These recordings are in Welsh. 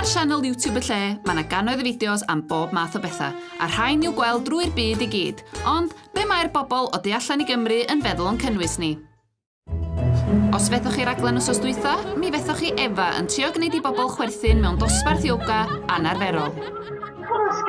sianel YouTube y lle, mae yna gannoedd o fideos am bob math o bethau, a rhain i'w gweld drwy'r byd i gyd. Ond, be mae'r bobl o du allan i Gymru yn feddwl o'n cynnwys ni? Os fethoch chi raglen os os dwytha, mi fethoch chi Efa yn trio gwneud i bobl chwerthin mewn dosbarth ioga anarferol. Cwsg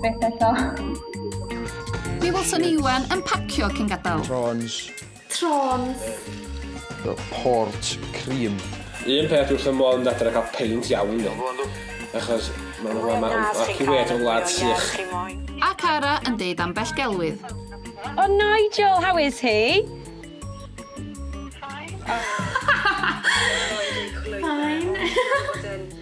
Beth eto? Mi welson Iwan yn pacio cyn gadael. Trons. Trons. Port cream. Un peth wrth y modd yn dadra cael peint iawn ni. Achos mae'n rhywle mae orci wed yn wlad sych. A Cara yn deud ambell gelwydd. O Nigel, how is he? Fine. Fine.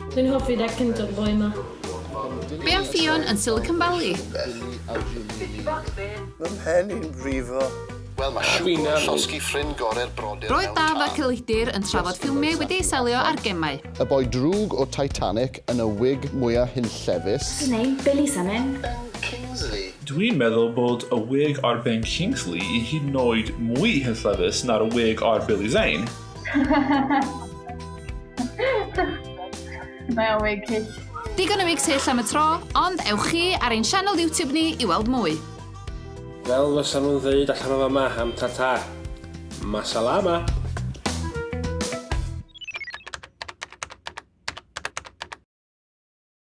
Dwi'n hoffi dy gyntor ddoe 'ma. Be am Ffion yn Silicon Valley? Fy mhen i'n brifo. Wel mae chef gŵr llosgi ffrind gore'r brodyr mewn Roedd Daf a Celidir yn trafod ffilmiau wedi eu selio ar gemau. Y boi drwg o Titanic yn y wig mwya hunllefus. What's his name? Billy something. Ben Kingsley. Dwi'n meddwl bod y wig ar Ben Kingsley i hyd yn oed mwy hunllefus na'r wig ar Billy Zane. Mae o'n wig hyll. Digon o wigs hyll am y tro, ond ewch chi ar ein sianel YouTube ni i weld mwy. Fel fysa nhw'n ddeud allan o fama am tata. Masalama!